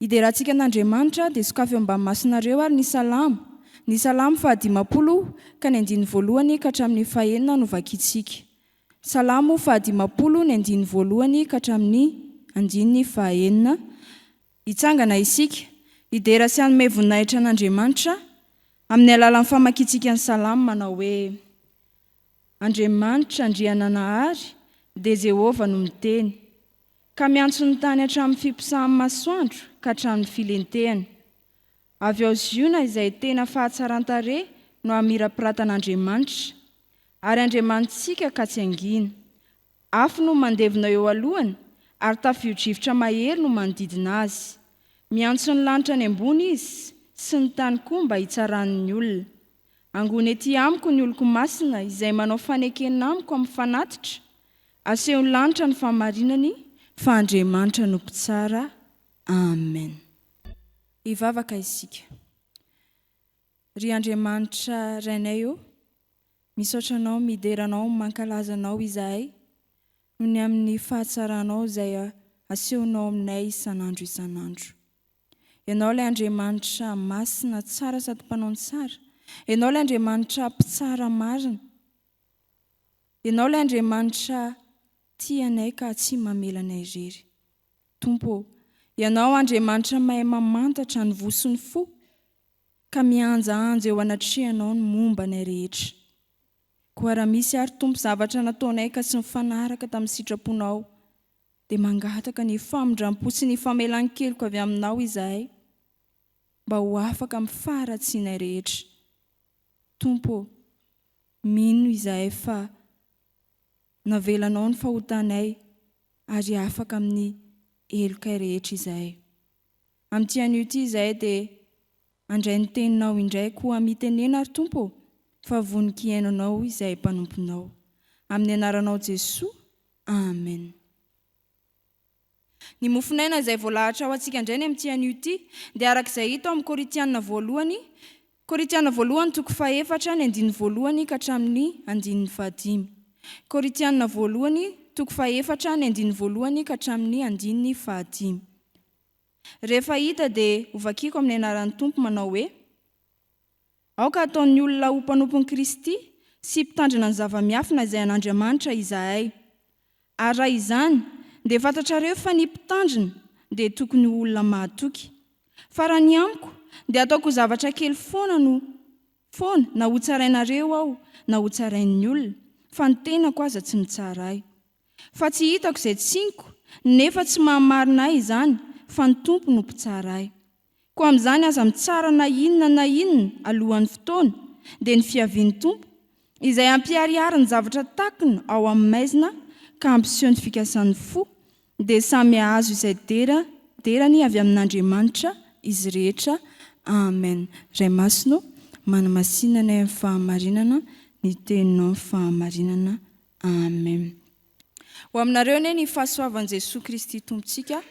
Hiderantsika an'Andriamanitra, dia sokafy eo ambany masonareo ary ny Salamo, ny Salamo fahadimampolo ka ny andininy voalohany ka hatramin'ny fahenina no vakintsika. Salamo fahadimampolo ny andininy voalohany ka hatramin'ny andininy fahaenina. Hitsangana isika, hidera sy hanome voninahitra an'Andriamanitra amin'ny alalan'ny famakintsika ny Salamo manao hoe, Andriamanitra, Andriananahary, dia Jehovah no miteny. Ka miantso ny tany hatramin'ny fiposahan'ny masoandro ka hatramin'ny filentehany. Avy ao Ziona izay tena fahatsaran-tarehy no hamirapiratan'Andriamanitra. Ary Andriamanitsika ka tsy hangina. Afo no mandevona eo alohany ary tafiodrivotra mahery no manodidina azy. Miantso ny lanitra any ambony izy sy ny tany koa mba hitsarany ny olona. Angony ety amiko ny oloko masina izay manao fanekena amiko amin'ny fanatitra, Asehon'ny lanitra ny fahamarinany fa Andriamanitra no mpitsara. Amen. Hivavaka isika. Ry Andriamanitra Rainay ô, misaotra Anao, midera Anao, mankalaza Anao izahay noho ny amin'ny fahatsaranao izay asehonao aminay isan'andro isan'andro. Ianao ilay Andriamanitra masina, tsara sady mpanao ny tsara. Ianao ilay Andriamanitra mpitsara marina. Ianao ilay Andriamanitra tia anay ka tsy mamela anay irery. Tompo ô, Ianao Andriamanitra mahay mamantatra ny voa sy ny fo, ka mihanjahanja eo anatrehanao ny momba anay rehetra. Koa raha misy ary Tompo zavatra nataonay ka tsy mifanaraka tamin'ny sitraponao, dia mangataka ny famindrampo sy ny famelan-keloka avy aminao izahay, mba ho afaka amin'ny faharatsianay rehetra. Tompo ô, mino izahay fa navelanao ny fahotanay ary afaka amin'ny helokay rehetra izahay. Amin'ity anio ity izahay dia handray ny Teninao indray koa mitenena ry Tompo ô, fa vonon-kiaino Anao izahay mpanomponao. Amin'ny Anaranao Jesoa, Amen. Ny mofonaina izay voalahatra ho antsika indray ny amin'ity anio ity dia araka izay hita ao amin'ny Korintiana voalohany Korintiana voalohany toko fahefatra ny andininy voalohany ka hatramin'ny andininy fahadimy Korintiana voalohany toko fahefatra ny andininy voalohany ka hatramin'ny andininy fahadimy Rehefa hita dia hovakiko amin'ny anaran'ny Tompo manao hoe Aoka hataon'ny olona ho mpanompon'i Kristy sy mpitandrina ny zava-miafina izay an'Andriamanitra izahay. Ary raha izany, dia fantatrareo fa ny mpitandrina dia tokony ho olona mahatoky. Fa raha ny amiko, dia ataoko zavatra kely foana no foana na hotsarainareo aho na hotsarain'ny olona, fa ny tenako aza tsy mitsara ahy. Fa tsy hitako izay tsiniko, nefa tsy maha-marina ahy izany, fa ny Tompo no mpitsara ahy. Koa amin'izany aza mitsara na inona na inona alohan'ny fotoana, dia ny fiavian'ny Tompo, izay hampiharihary ny zavatra takona ao amin'ny maizina ka hampiseho ny fikasan'ny fo, dia samy hahazo izay dera derany avy amin'Andriamanitra izy rehetra. Amen. Ray Masina ô, manamasina anay amin'ny fahamarinana ny Teninao amin'ny fahamarinana. Amen. Ho aminareo anie ny fahasoavan'i Jesoa Kristy Tompontsika.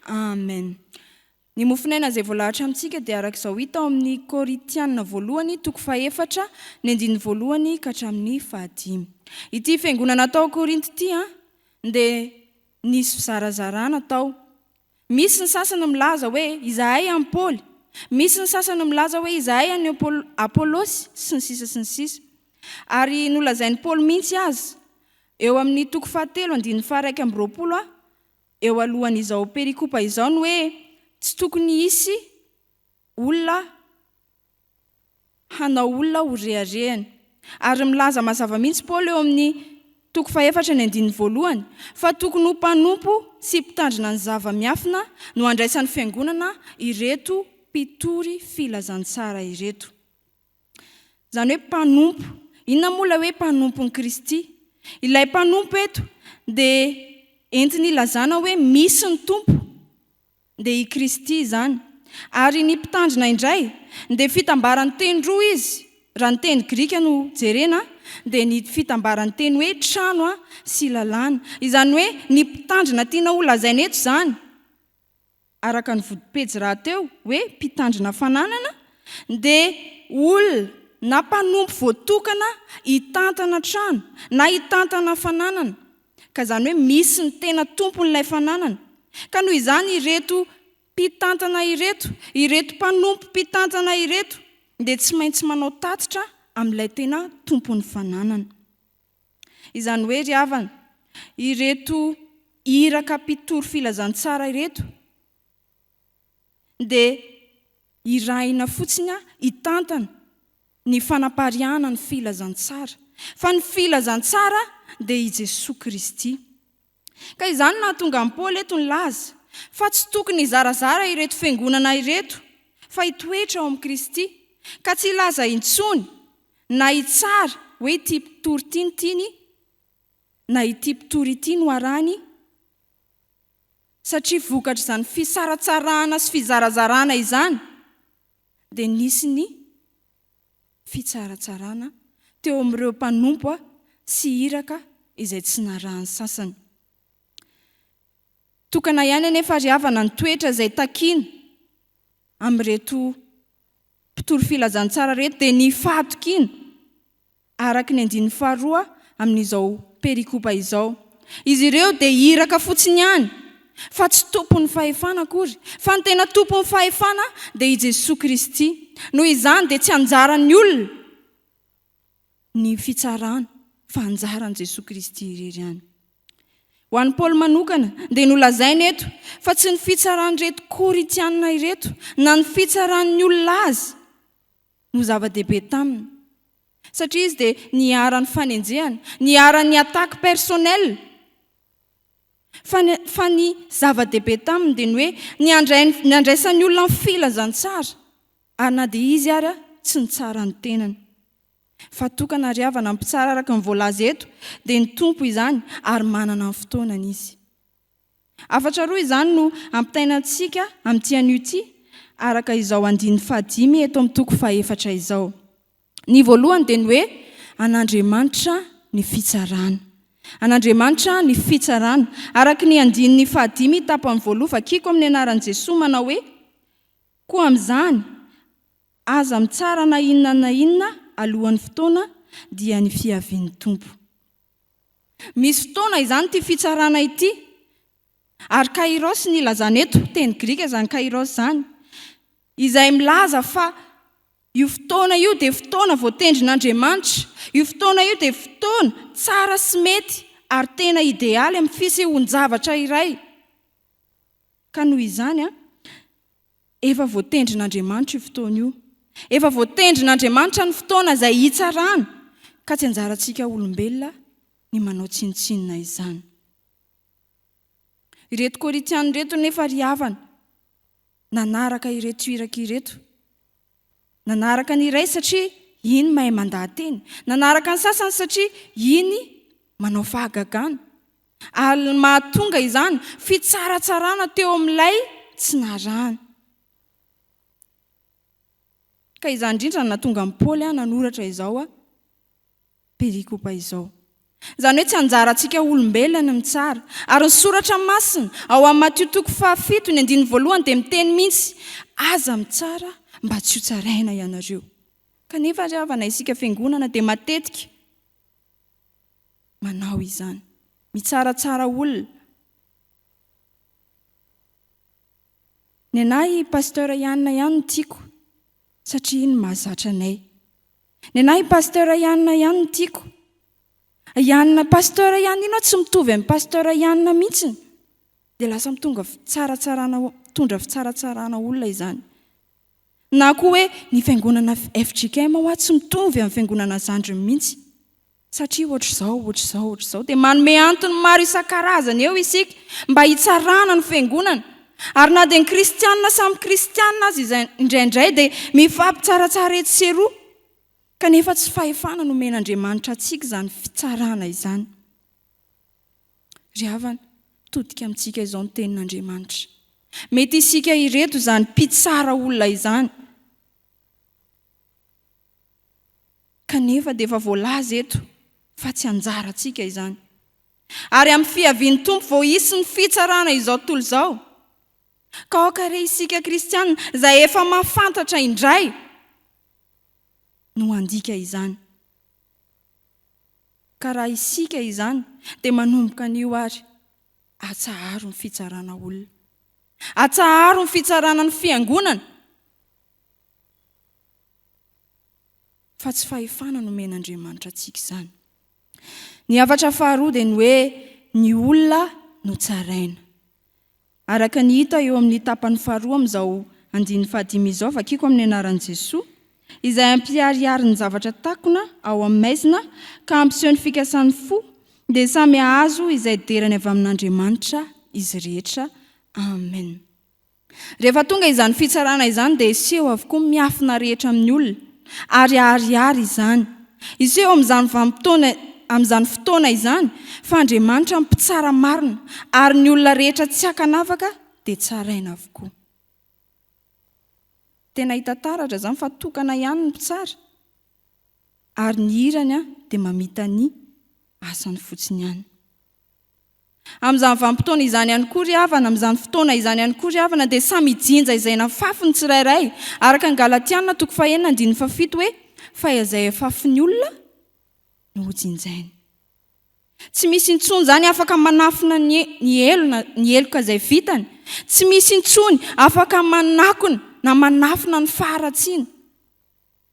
Amen. Ny mofonaina izay voalahatra amintsika dia araka izao hita ao amin'ny Korintiana voalohany toko fahefatra ny andininy voalohany ka hatramin'ny fahadimy. Ity fiangonana tao Korinto ity dia nisy fizarazarana tao. Misy ny sasany milaza hoe izahay an'i Paoly, misy ny sasany milaza hoe izahay an'i Apolosy, sy ny sisa sy ny sisa. Ary nolazain'i Paoly mihitsy aza eo amin'ny toko fahatelo andininy faharaika amby roapolo, eo alohan'izao perikopa izao ny hoe tsy tokony hisy olona hanao olona ho reharehany. Ary milaza mazava mihitsy Paoly eo amin'ny toko fahefatra ny andininy voalohany fa tokony ho mpanompo sy mpitandrina ny zava-miafina no handraisan'ny fiangonana ireto mpitory filazantsara ireto. Izany hoe mpanompo. Inona moa ilay hoe mpanompon'i Kristy? Ilay mpanompo eto dia entiny ilazana hoe misy ny Tompo, dia i Kristy izany. Ary ny mpitandrina indray dia fitambaran-teny roa izy, raha ny teny grika no jerena dia ny fitambaran-teny hoe trano sy lalàna. Izany hoe ny mpitandrina tiana holazaina eto izany araka ny vodipejy rahateo hoe mpitandrina fananana dia olona na mpanompo voatokana hitantana trano na hitantana fananana ka izany hoe misy ny tena tompon'ilay fananana ka noho izany ireto mpitantana ireto ireto mpanompo mpitantana ireto dia tsy maintsy manao tatitra amin'ilay tena tompon'ny fananana. Izany hoe ry havana, ireto iraka mpitory filazantsara ireto dia irahina fotsiny hitantana ny fanapariahana ny filazantsara, fa ny filazantsara dia i Jesoa Kristy. Ka izany no nahatonga an'i Paoly eto nilaza fa tsy tokony hizarazara ireto fiangonana ireto fa hitoetra ao amin'i Kristy, ka tsy hilaza intsony na hitsara hoe ity mpitory ity no tiany na ity mpitory ity no arahiny, satria vokatr'izany fisaratsarahana sy fizarazarana izany dia nisy ny fitsaratsarana teo amin'ireo mpanompo sy iraka izay tsy narahan'ny sasany. Tokana ihany anefa ary havana ny toetra izay takiana amin'ireto mpitory filazantsara ireto dia ny fahatokiana araka ny andininy faharoa amin'izao perikopa izao. Izy ireo dia iraka fotsiny ihany, fa tsy tompon'ny fahefana akory, fa ny tena tompon'ny fahefana dia i Jesoa Kristy. Noho izany dia tsy anjaran'ny olona ny fitsarana, fa anjaran'i Jesoa Kristy irery ihany. Ho an'i Paoly manokana dia nolazainy eto fa tsy ny fitsaran'ireto Korintiana ireto na ny fitsaran'ny olona azy, no zava-dehibe taminy satria izy dia niharan'ny fanenjehana, niharan'ny attaque personnelle fa ny fa ny zava-dehibe taminy dia ny hoe ny andraisan'ny olona ny filazantsara ary na dia izy ary tsy nitsara ny tenany fa tokana ary havana mpitsara araka ny voalaza eto dia ny Tompo izany ary manana ny fotoanany izy. Hafatra roa izany no ampitaina antsika amin'ity anio ity, araka izao andininy fahadimy eto amin'ny toko fahefatra izao. Ny voalohany dia ny hoe, An'Andriamanitra ny fitsarana. An'Andriamanitra ny fitsarana. Araka ny andininy fahadimy tapany voaloha, vakiko amin'ny anaran'i Jesoa, manao hoe, Koa amin'izany, aza mitsara na inona na inona alohan'ny fotoana, dia ny fiavian'ny Tompo. Misy fotoana izany ity fitsarana ity. Ary kairos ny ilazana eto, teny grika izany kairos izany, izay milaza fa io fotoana io dia fotoana voatendrin'Andriamanitra, io fotoana io dia fotoana tsara sy mety ary tena idealy amin'ny fisehoan-javatra iray. Ka noho izany, Efa voatendrin'Andriamanitra io fotoana io. Efa voatendrin'Andriamanitra ny fotoana izay hitsarany, ka tsy anjarantsika olombelona ny manao tsinontsinona izany. Ireto Korintiana ireto nefa ry havana, nanaraka ireto iraka ireto. Nanaraka ny iray satria iny mahay mandaha-teny. Nanaraka ny sasany satria iny manao fahagagana. Ary ny mahatonga izany, fitsaratsarana teo amin'ilay tsy narahana. Ka izany indrindra no nahatonga an'i Paoly nanoratra izao. perikopa izao. Izany hoe tsy anjarantsika olombelona ny mitsara. Ary ny Soratra Masina, ao amin'ny Matio toko fahafito, ny andininy voalohany, dia miteny mihitsy, Aza mitsara mba tsy hotsaraina ianareo. Kanefa ry havana, isika Fiangonana dia matetika manao izany. Mitsaratsara olona. Ny anà i Pasteur Yann ihany no tiako, satria iny mahazatra anay. Nenahy pasteur Ianina ihany no tiako. Ianina pasteur ihany ino tsy mitovy amin'ny pasteur Ianina mihitsiny. Dia lasa mitonga fitsaratsarana mitondra fitsaratsarana olona izany. Na koa hoe ny fiangonana FJKM hoa tsy mitovy amin'ny fiangonana zandriny mihitsy. Satria hoatr'izao, hoatr'izao, hoatr'izao, dia manome antony maro isan-karazany eo isika mba hitsarana ny Fiangonana. Ary na dia ny kristiana samy kristiana aza izay indraindray dia mifampitsaratsara etsy sy eroa, kanefa tsy fahefana nomen'Andriamanitra antsika izany fitsarana izany. Ry havana, mitodika amintsika izao ny Tenin'Andriamanitra. Mety isika ireto izany mpitsara olona izany. Kanefa dia efa voalaza eto fa tsy anjarantsika izany. Ary amin'ny fiavian'ny Tompo vao hisy ny fitsarana izao tontolo izao. Ka aoka re isika kristiana izay efa mahafantatra indray no handika izany. Ka raha isika izany dia manomboka anio ary atsaharo ny fitsarana olona. Atsaharo ny fitsarana ny fiangonana. fa tsy fahefana nomen'Andriamanitra antsika izany. Ny havatra faharoa dia ny hoe ny olona no tsaraina. Araka ny hita eo amin'ny tapany faharoa amin'izao andininy fahadimy izao vakiko amin'ny anaran'i Jesoa, izay ampiharihary ny zavatra takona ao amin'ny maizina ka ampiseho ny fikasan'ny fo, dia samy hahazo izay derany avy amin'Andriamanitra izy rehetra. Amen. Rehefa tonga izany fitsarana izany dia hiseho avokoa ny miafina rehetra amin'ny olona, ary haharihary izany. Hiseho amin'izany vanim-potoana, amin'izany fotoana izany, fa Andriamanitra mpitsara marina, ary ny olona rehetra tsy ankanavaka dia tsaraina avokoa. Tena hita taratra izany fa tokana ihany ny mpitsara, ary ny hirany dia mamita ny asany fotsiny ihany. Amin'izany vanim-potoana izany ihany koa ry havana, amin'izany fotoana izany ihany koa ry havana, dia samy hijinja izay nafafy ny tsirairay, araka ny Galatiana toko fahenina andininy fahafito hoe, fa izay hafafin'ny olona no hojinjainy. Tsy misy intsony izany afaka manafina ny ny helona, ny heloka izay vitany. Tsy misy intsony afaka manakona na manafina ny faharatsiana.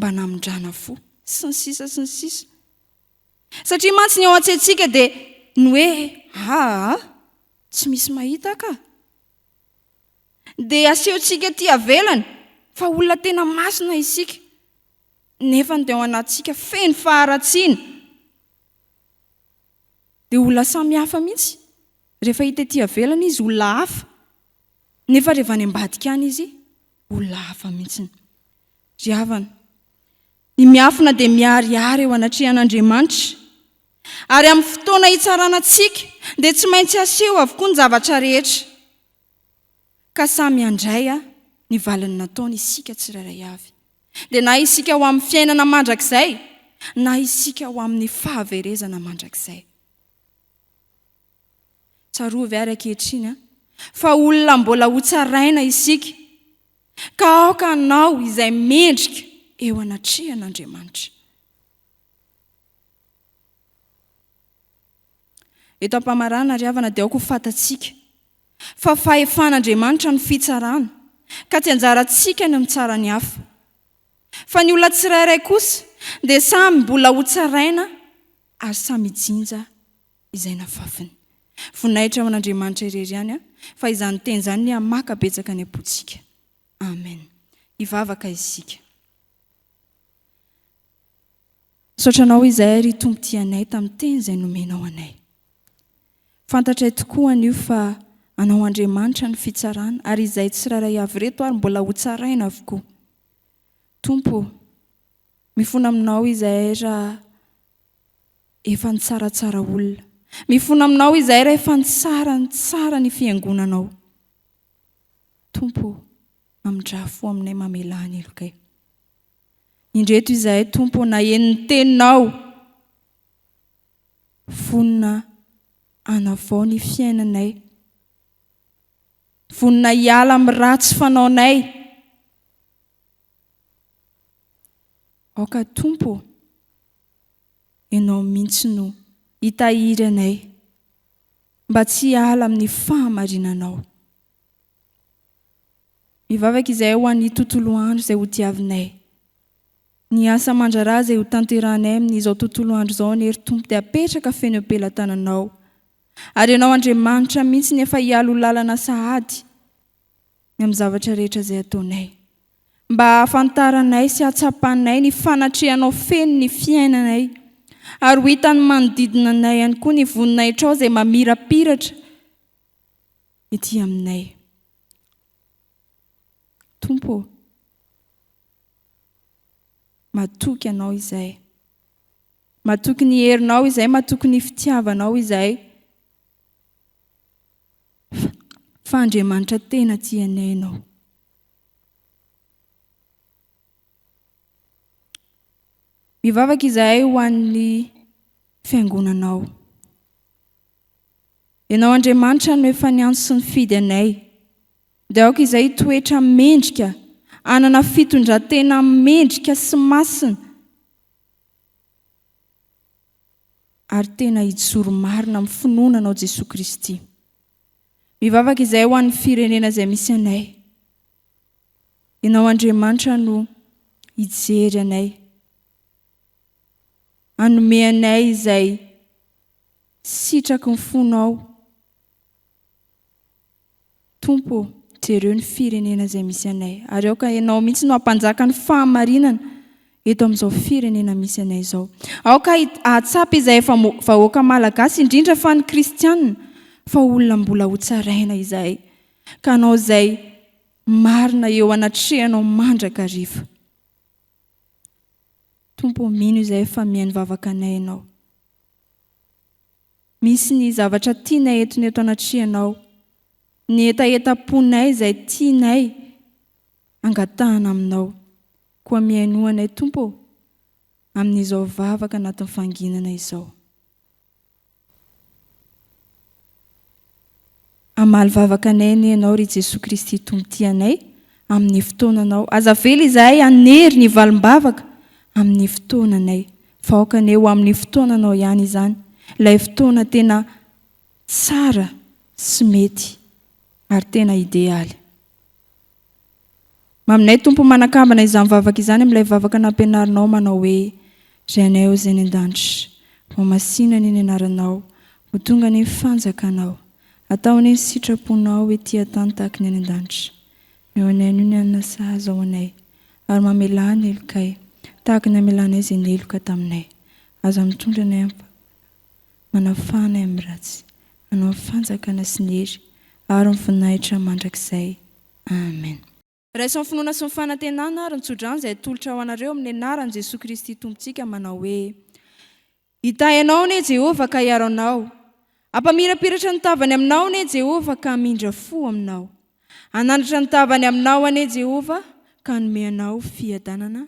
mba namindrana fo, sy ny sisa sy ny sisa. Satria mantsy ny ao an-tsaintsika dia ny hoe aa, tsy misy mahita ka. Dia asehontsika aty avelany fa olona tena masina isika, nefa ny dia ao anatintsika feno faharatsiana. Dia olona samihafa mihitsy. Rehefa hita aty avelany izy olona hafa, nefa rehefa any ambadika any izy, Olona hafa mihitsiny. Ry havana, ny miafina dia miharihary eo anatrehan'Andriamanitra. Ary amin'ny fotoana hitsarana antsika dia tsy maintsy haseho avokoa ny zavatra rehetra. Ka samy handray ny valiny nataony isika tsirairay avy. Dia na isika ho amin'ny fiainana mandrakizay na isika ho amin'ny fahaverezana mandrakizay. Tsarovy ary ankehitriny fa olona mbola hotsaraina isika, ka aoka hanao izay mendrika eo anatrehan'Andriamanitra. Eto am-pamarana, ry havana, dia aoka ho fantatsika fa fahefan'Andriamanitra ny fitsarana, ka tsy anjarantsika ny mitsara ny hafa. Fa ny olona tsirairay kosa dia samy mbola hotsaraina ary samy hijinja izay nafafiny. Voninahitra ho an'Andriamanitra irery ihany an, fa izany teny izany ny hamaka betsaka ny am-pontsika. Amen. Hivavaka isika. Misaotra anao izay ry Tompo tia anay tamin'ny teny izay nomenao anay. Fantatray tokoa anio fa anao Andriamanitra ny fitsarana ary izay tsirairay avy reto ary mbola ho tsaraina avokoa. Tompo, mifona aminao izahay raha efa nitsaratsara olona. Mifona aminao izahay rehefa nitsara nitsara ny fiangonanao. Tompo ô, mamindraha fo aminay mamelà ny helokay. Indreto izahay Tompo ô naheno ny teninao, vonona hanavao ny fiainanay, vonona hiala amin'ny ratsy fanaonay. Aoka Tompo ô, Ianao mihintsy no hitahiry anay mba tsy hiala amin'ny fahamarinanao. Mivavaka izahay ho an'ny tontolo andro izay hodiavinay. Ny asa aman-draharaha izay hotanterahanay amin'izao tontolo andro izao anie ry Tompo dia apetraka feno eo am-pelatananao. Ary Ianao Andriamanitra mihintsy no efa hialo lalana sahady ny amin'ny zavatra rehetra izay ataonay. mba hahafantaranay sy hahatsapanay ny fanatrehanao feno ny fiainanay, ary ho hitan'ny manodidina anay ihany koa ny voninahitrao izay mamirapiratra ety aminay. Tompo ô, matoky Anao izay. Matoky ny herinao izay, matoky ny fitiavanao izay. Fa Andriamanitra tena tia anay Ianao. Mivavaka izahay ho an'ny fiangonanao. Ianao Andriamanitra no efa niantso sy nifidy anay. Dia aoka izay hitoetra mendrika, anana fitondratena mendrika sy masina, ary tena hijoro marina amin'ny finoana anao Jesoa Kristy. Mivavaka izahay ho an'ny firenena izay misy anay. Ianao Andriamanitra no hijery anay. Anome anay izay sitraky ny fonao. Tompo, jereo ny firenena izay misy anay. Ary aoka ianao mihitsy no hampanjaka ny fahamarinana. eto amin'izao firenena misy anay izao. Aoka hahatsapa izay efa vahoaka malagasy, indrindra fa ny kristianina, fa olona mbola hotsaraina izahay, ka hanao izay marina eo anatrehanao mandrakariva. Tompo ô, mino izahay fa mihaino vavakanay Ianao. Misy ny zavatra tianay entona eto anatrehanao, ny hetahetam-ponay izay tianay angatahana aminao. Koa mihainoa anay Tompo ô, amin'izao vavaka anatin'ny fanginana izao. Hamaly vavaka anay anie Ianao ry Jesoa Kristy Tompo tia anay amin'ny fotoananao. Aza avela izahay hanery ny valim-bavaka amin'ny fotoananay, fa aoka anie ho amin'ny fotoananao ihany izany, ilay fotoana tena tsara sy mety ary tena idealy. Maminay Tompo ho manakambana izany vavaka izany amin'ilay vavaka nampianarinao manao hoe, Ry Anay Ozy any an-danitra, ho masina anie ny anaranao, ho tonga anie ny fanjakanao, atao anie ny sitraponao ety an-tany tahaka ny any an-danitra. Meo anay anio ny hanina sahaza ho anay, ary mamelà ny helokay, tahaka ny amelanay izay niheloka taminay. Aza mitondra anay am-pahotana. Manafahana ahy amin'ny ratsy. Anao ny fanjakana sy ny hery ary ny voninahitra mandrakizay. Amen. Raiso amin'ny finoana sy ny fanantenana ary ny tsodrano izay atolotra ho anareo amin'ny anaran'i Jesoa Kristy Tompontsika manao hoe, Hitahy anao anie Jehovah ka hiaro anao. Hampamirapiratra ny tavany aminao anie Jehovah ka hamindra fo aminao. Hanandratra ny tavany aminao anie Jehovah ka hanome anao fiadanana.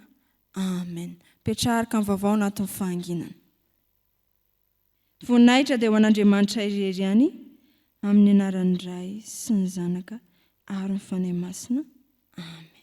Amen. Mpiatraraka ny vaovao anatin'ny fahanginana. Voninahitra dia ho an'Andriamanitra irery ihany, amin'ny anaran'ny Ray sy ny Zanaka ary ny Fanahy Masina. Amen.